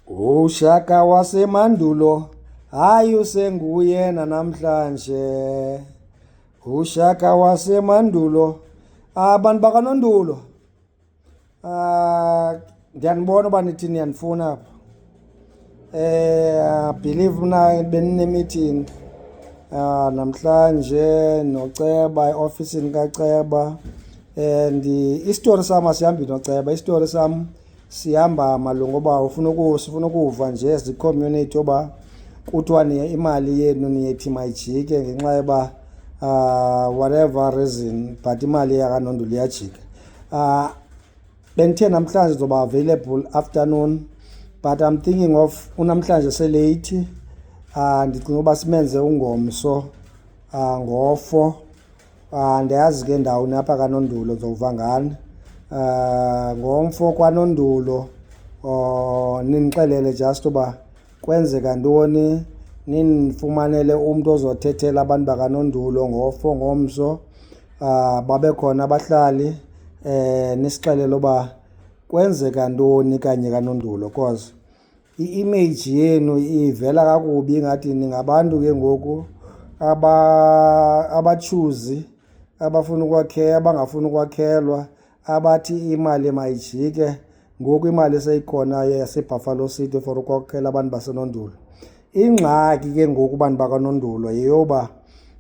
UShaka wasemandulo hayi usenguye nanamhlanje. UShaka wasemandulo abantu bakanondulo ah ndiyanibona uba nithi niyandifuna apha eh believe mna beninemeeting ah namhlanje noceba eofisini kaceba and eh, isitori sam asihambi noceba isitori sam sihamba malunga uba ufuna sifuna ukuva nje as i-community yoba kuthiwa imali yenu niyethi mayijike ngenxa yoba uh, whatever reason but imali yakanondulu iyajika uh, bendithe namhlanje zoba available afternoon but i'm thinking of unamhlanje seleyithi uh, ndicinga uba simenze ungomso uh, ngofo Ah, ndiyazi ke ndawuni apha kanondulo zowuva ngani um ngomfo kwanondulo um ninixelele just uba kwenzeka ntoni ninifumanele umntu ozothethela abantu bakanondulo ngofo ngomso um babe khona abahlali um nisixelele uba kwenzeka ntoni kanye kanondulo cause I-image yenu ivela kakubi ingathi ningabantu ke ngoku abatshuzi abafuna ukwakhela abangafuni ukwakhelwa abathi imali mayijike ngoku imali eseyikhonayo yasebuffalo city for ukwakhela abantu basenondulo ingxaki ke ngoku bantu bakanondulo yeyoba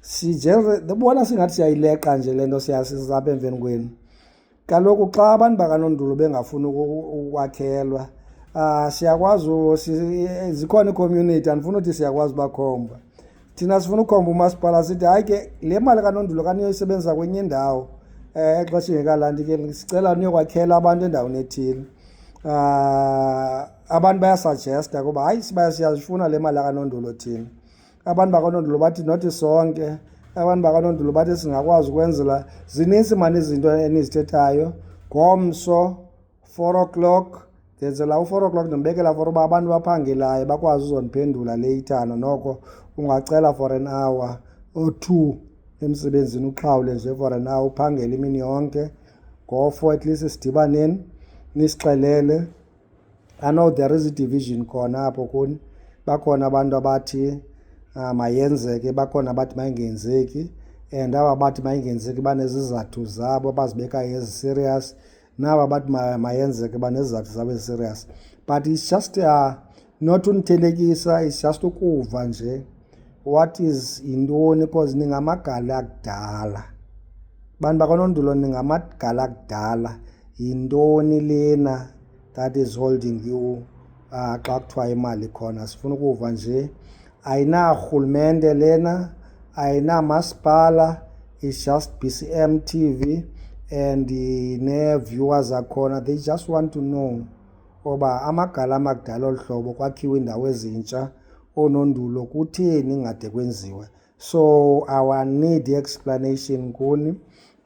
sijebona singathi siyayileqa nje le nto siyasizapha emveni kwenu Kaloku xa abantu bakanondulu bengafuni ukwakhelwa um siyakwazi zikhona icommunity andifuna uthi siyakwazi ubakhomba thina sifuna ukhomba umasipala sithi hayi ke le mali kanondulu kaniyoyisebenzisa kwenye indawo um eh, exesha ingekalandi ke sicela niyokwakhela abantu endaweni ethile um abantu bayasugesta kuba hayi sibaya siyazifuna le mali akanondulu thina abantu bakanondulo bathi nothi sonke abantu bakanondulo bathi singakwazi ukwenzela zininzi mani izinto enizithethayo ngomso four o'clock ndenzela u-four o'clock ndimbekela for uba abantu baphangelayo bakwazi uzondiphendula leyithana noko ungacela for an hour or two emsebenzini uxhawule nje for an hour uphangele imini yonke ngofo at least sidibaneni nisixelele I know there is a division khona apho kuni bakhona abantu abathi uh, mayenzeke bakhona abathi mayingenzeki and aba bathi mayingenzeki banezizathu zabo abazibekayo ezi-serious naba bathi mayenzeke banezizathu zabo ezi-serious but it's just uh, not unithelekisa it's just ukuva nje What is yintoni because ningamagala akudala. Bantu bakwaNondulo ningamagala akudala. Yintoni lena that is holding you uh, xa kuthiwa imali khona sifuna ukuva nje ayinarhulumente lena ayinamasipala it's just bcm tv and nee-viewers zakhona they just want to know oba amagala amakudala olu hlobo kwakhiwa iindawo ezintsha oonondulo kutheni ingade kwenziwe so our need explanation kuni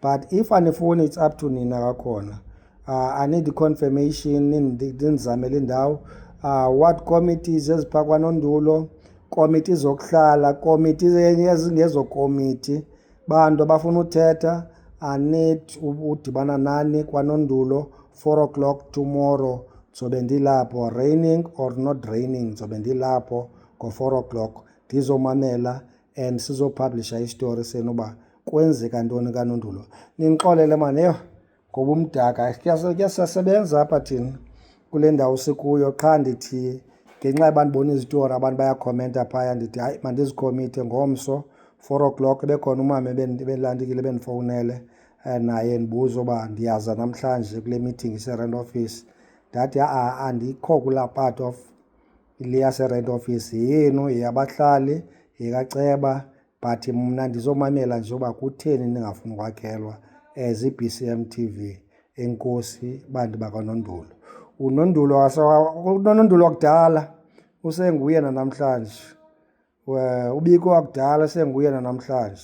but if anifuni it's up to nina kakhona uh, i need confirmation nindizamele indawo uh, what committees eziphakwano ndulo komiti zokuhlala komiti yezingezokomiti Bantu abafuna uthetha, I need udibana nani kwanondulo, 4 o'clock tomorrow. Ndizobe ndilapho, raining or not raining, ndizobe ndilapho ngo-four o'clock ndizomamela and sizophaplisha isitori senu uba kwenzeka ntoni kanondulo. Nindixolele maan, yho! ngoba umdaka kuyasebenza apha thina kule ndawo sikuyo qha ndithi ngenxa yoba ndibona izitori abantu bayakhomenta phaya ndithi hayi mandizikhomithe ngomso four o'clock bekhona umama ebelandikile bendifowunele eh, naye ndibuza uba ndiyaza namhlanje kule meeting ise-rent office ndathi ha-a andikho kulaa part of le yase-rent office yenu yeyabahlali yekaceba but mna ndizomamela nje uba kutheni ndingafuni ukwakhelwa as iB C M T V enkosi bantu bakanondulo unondulo unondulo wakudala usenguye nanamhlanje ubiko wakudala senguye nanamhlanje